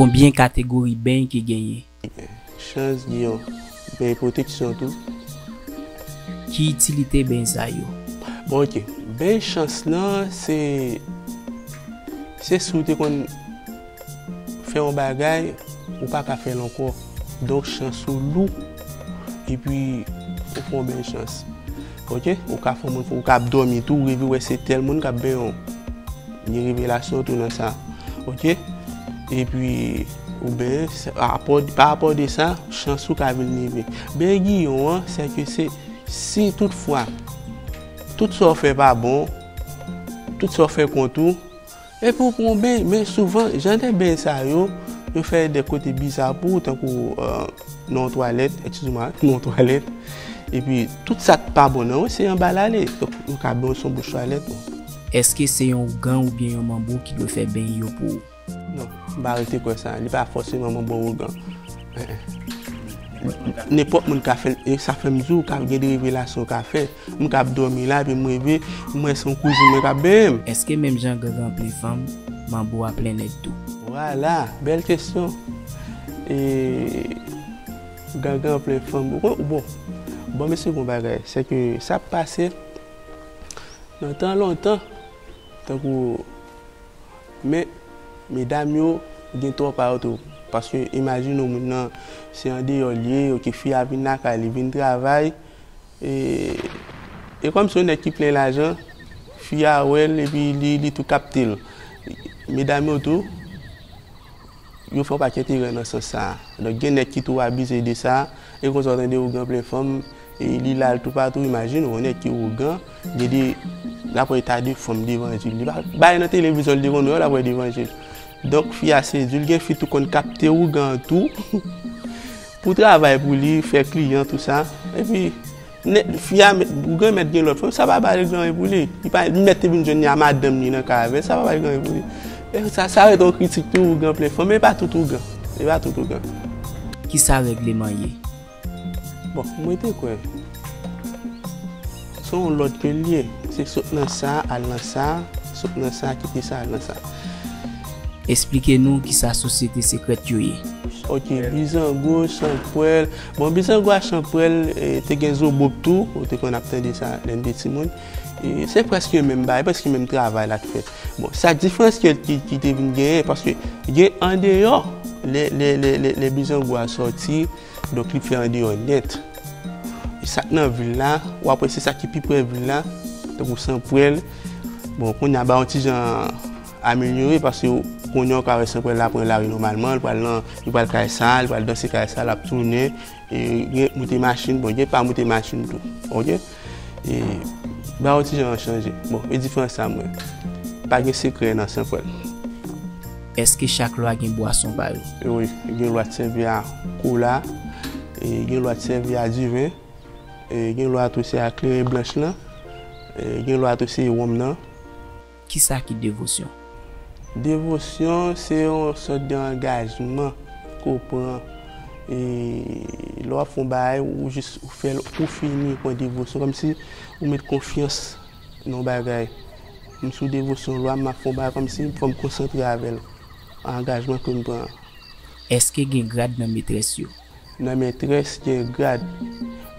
Konbyen kategori beny ki genyen? Chans gen yon beny pwoteksyon tou. Ki itilite beny sa yo? Bon ok, beny chans lan se si ou te konn. Fè yon bagay ou pa ka fèl ankò donk chans ou lou epi ou fè yon bèl chans ok ou ka fè moun fè ou ka ap dòmi tou ou reve wè se tèl moun kap benyen w gen revelasyon tou nan sa ok epi ou benyen pa apò de sa chans ou ka vin leve benyen giyon an se ke se si tout fwa tout sa w fè pa bon tout sa w fè kont ou Epi ou pran w beny, men souvan jan de beny sa yo, yo fè de kote biza pou ou tankou nan yon twalèt, ekskize mwa, nan yon twalèt, epi tout sa k pa bon nan yo se anba l ale, donk yo ka beny w son bouch twalèt bon. Eske se yon ougan oubyen yon manbo ki dwe fè beny yo pou ou? Non, m pa rete kwè sa, li pa fòseman manbo ou ougan. Nenpòt moun ka fè l, e sa fè m di w ka gen de revelasyon w ka fè. M kap domi la epi m reve m wè son kouzin mwen kap benyen m. Eske menm jan gangan plen fanm, manbo a plen nèg tou? Vwala! Bèl kesyon! E gangan plen fanm ou konn bon bon mesye gon bagay se ke sa ap pase nan tan lontan tankou men medam yo gen tò pa yo tou paske imajine w moun nan se andeyò l ye ok fi a vin lakay li vin travay E kòm se yon nèg ki plen lajan, fi a wè l epi li tou kapte l. Medam yo tou, yo fè yon pakèt erè nan sans sa a. Donk gen nèg ki tou abize de sa. E konsa w tande ougan plen fanm, li la l toupatou. Imajine w yon nèg ki ougan, gen de l ap wè eta de fanm devan je l. Li pa bay nan televizyon l te konn wè yo l ap wè devan je l. Donk fi a sezi l. Gen fi tou konn kapte ougan an tou. Pou travay pou li, fè kliyan tout sa. Epi nèg fi a mèt pou granmèt gen lòt fanm, sa pa pale gran ren pou li. Li pa li mèt te vin jwenn li a madanm li nan kay avèl, sa pa pale gran ren pou li. E sa sa ret yon kritik tou ougan plen fanm, e pa tout ougan. E pa tout ougan. Kisa règleman ye? Bon, mwen te kwè. Se yon lòd ke l ye. Se sot nan sa a al nan sa a, sot nan sa a kite sa a al nan sa a. Esplike nou ki sa sosyete sekrèt yo ye. Ok, Bizango, Chanpwèl. Bon, Bizango ak Chanpwèl, te gen Zobop tou, ou te konn ap tande sa lè n te timoun. Se prèske yon menm bagay, prèske menm travay la k fèt. Bon, sa diferans ke ki te vin genyen, paske gen andeyò, lè Bizango a sòti. Donk li fè andeyò nèt. E sa k nan vil la, ou ap wè se sa ki pi pre vil la, tankou Sanprèl. Bon, kounye a ba yon ti jan amelyore paske kounye a ou ka wè Sanprèl la pran lari nòmalman, li pral nan, li pral kay sa, li pral danse kay sa, l ap tounen. E gen moute machin, bon, gen pa moute machin tou. Ok? E ba ou ti jan an chanje. Bon, e diferans sa mwen. Pa gen sekrè nan san pwèl. Eske chak lwa gen bwason pa yo? Wi, gen lwa t sèvi a kola, e gen lwa t sèvi a diven, e gen lwa tou se a kleren blanch lan, e gen lwa tou se wonm nan. Ki sa ki devosyon? Devosyon se yon sòt de angajman ke w pran. E lè w ap fè yon bagay, ou jis ou fè l pou fini, ou pran devosyon. Kòm si ou met konfyans nan yon bagay. M sou devosyon lwa m, m ap fè yon bagay kòm si fò m konsantre avè l. Angajman ke m pran. Èske gen grad nan metrès yo? Nan mètrès gen grad.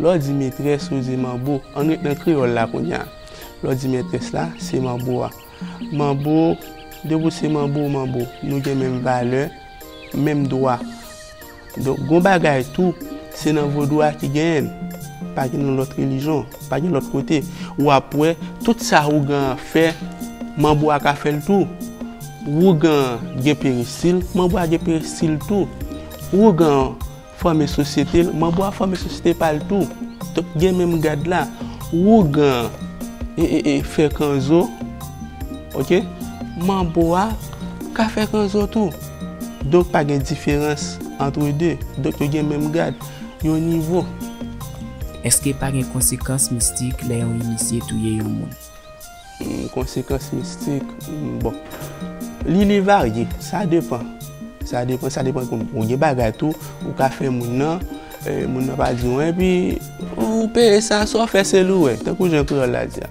Lè w di metrès ou di manbo. Ann ret nan kreyòl la kounye a. Lè w di mètrès la, se manbo a. Manbo, depi w se manbo, manbo. Nou gen menm valè, menm dwa. Donk, gen yon bagay tou, se nan vodou a ki genyen l. Pa gen nan lòt relijyon. Pa gen lòt kote. Ou ap wè, tout sa ougan an fè, manbo a ka fè l tou. Ougan an gen perestil, manbo a gen perestil tou. Wougan an fòme sosyete l, manbo a fòme sosyete pa l tou. Donk gen menm gad la. Wougan an fè kanzo, ok, manbo a ka fè kanzo tou. Donk pa gen diferans antre de. Donk yo gen menm gad, yon nivo. Èske pa gen konsekans mistik lè yon inisye touye yon moun? Konsekans mistik, bon, li varye, sa depan, sa depan, sa depan kòm ou gen bagay tou, ou ka fè moun nan, moun nan pa di ou anyen, epi ou peye sa, sa ou fè se li ou wè, tankou jan kreyòl la di a.